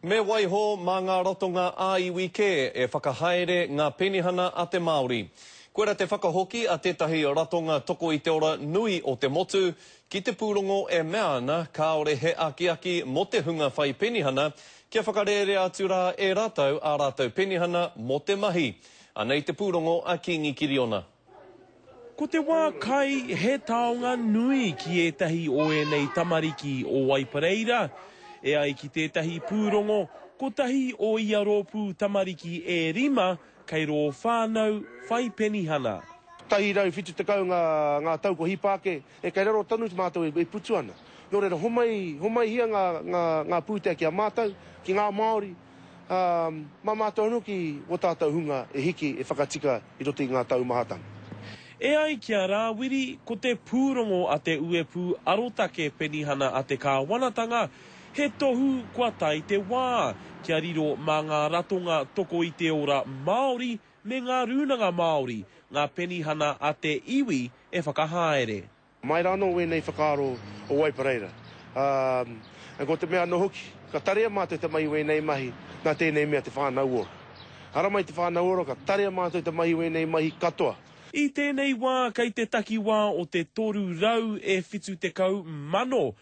Me waiho mā ngā ratonga ā-iwi kē e whakahaere ngā penihana a te Māori. Kua rā te whakahoki a tētahi ratonga toko i te ora nui o te motu ki te pūrongo e mea ana kāore he akiaki mō te hunga whai penihana kia whakarērea atu rā e rātou ā rātou penihana mō te mahi. Anei te pūrongo a Kīngi Kiriona. Ko te wā kai he taonga nui ki ētahi o ēnei tamariki o Waipareira. E ai ki tētahi pūrongo, kotahi o ia rōpū tamariki e rima kei rō whānau whai penihana. Tahi rau whitu tekau ngā tau kua hipa ake, e kei raro tonu mātou e putu ana. Nō reira, homai, homaihia ngā pūtea ki a mātou, ki ngā Māori, ā, mā mātou anō ki wō tātou hunga e hiki, e whakatika i roto i ngā taumahatanga. E ai ki a Rāwiri, ko te pūrongo a Te Uepū Arotake Penihana a te Kāwanatanga, he tohu kua tae te wā, kia riro mā ngā ratonga toko i te ora Māori me ngā rūnanga Māori, ngā penihana a te iwi e whakahaere. Mai rā anō wēnei whakaaro o Waipareira, ā, ko te mea anō hoki, ka tarea mātou te mahi wēnei mahi nā tēnei mea te whānau ora. Ara mai te whānau ora, ka tarea mātou te mahi wēnei mahi katoa. I tēnei wā kei te takiwā o te 370 mano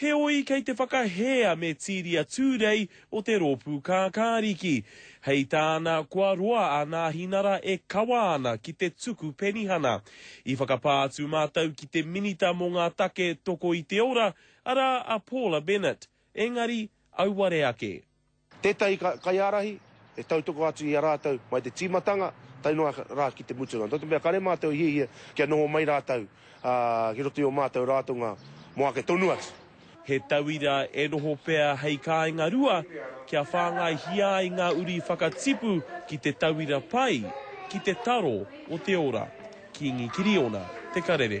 Heoi, kei te whakahē a Metiria Tūrei o te Rōpū Kākāriki. Hei tāna, kua roa a Nāhinara e kawa ana ki te tuku penihana. I whakapā atu mātou ki te Minita mō ngā Take Toko i te Ora, arā a Paula Bennett, engari, auare ake. Tētahi kaiārahi e tautoko atu i a rātou mai te tīmatanga tae noa rā ki te mutunga. Nō te mea kare mātou e hiahia kia noho mai rātou ki roto i ō mātou ratonga mō ake tonu atu. He tauira e noho pea hei kāinga rua kia whāngaihia ai ngā uri whakatipu ki te tauira pai ki te taro o te ora. Kīngi Kiriona, Te Karere.